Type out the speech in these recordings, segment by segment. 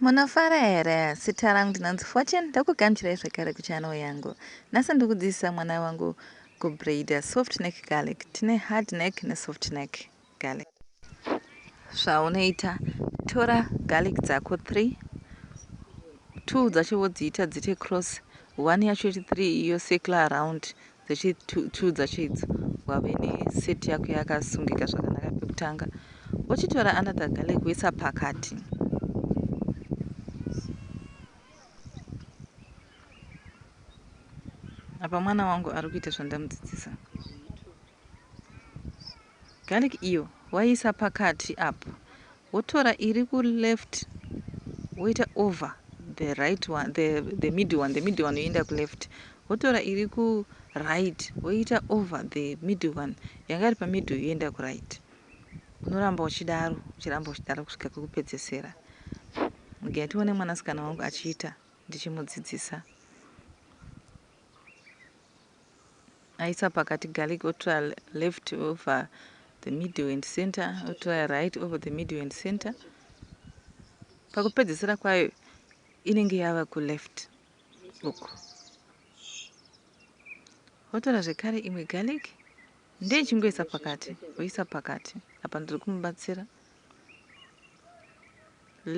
Munofara here? Zita rangu ndinonzi Fortune ndokugamuchirai zvekare kuchannel yangu. Nhasi ndiri kudzidzisa mwana wangu kubraider soft neck garlic. Tine hard neck nesoft neck garlic. Zvaunoita tora garlic dzako 3 2 dzacho wodziita dzite cross 1 yacho iri 3 iyo circular around dzechitiudza chaidzo wave neset yako yakasungika zvakanaka pekutanga wochitora another garlic woisa pakati apa mwana wangu ari kuita zvandamudzidzisa Garlic iyo waiisa pakati apo wotora iri ku left woita over the right one the, the middle one the middle one yoenda ku left wotora iri ku right woita over the middle one yanga iri pa middle yoenda ku right unoramba uchidaro uchiramba uchidaro kusvika kwekupedzesera ndigai tione mwanasikana wangu achiita ndichimudzidzisa Aisa pakati garlic otrya left over the middle and center otrya right over the middle and center. Pakupedzesera kwayo inenge yava kuleft uku. Wotora zvekare imwe garlic ndeyechingoisa pakati, woisa pakati. Apa ndiri kumubatsira.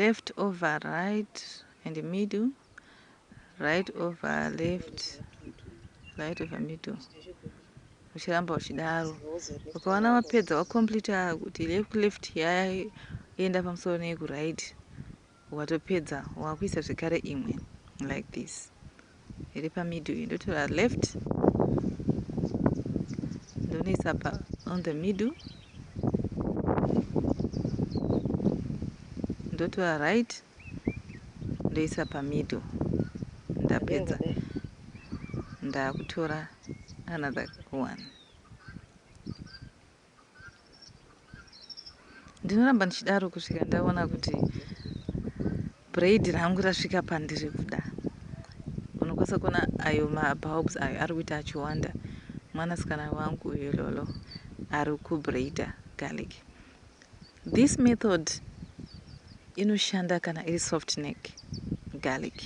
left over right and middle right over left right over middle uchiramba uchidaro ukaona wapedza wacompleta kuti left yaya enda pamusoro neyekuright Watopedza wakuisa zvekare imwe like this iri pamiddle iyi ndotora left ndonoisa pa on the middle ndotora right ndoisa pamiddle ndapedza ndakutora another one ndinoramba ndichidaro kusvika ndaona kuti braid rangu rasvika pandiri kuda unokwanisa kuona ayo mabulbs ayo ari kuita achiwanda mwanasikana wangu uyo lolo ari kubraida garlic this method inoshanda kana iri soft neck garlic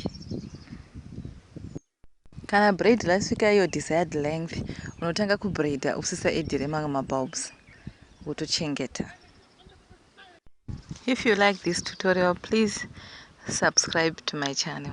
Kana braid rasvika iyo desired length unotanga kubraider usisa edhire mamwe mabulbs wotochengeta. If you like this tutorial please subscribe to my channel.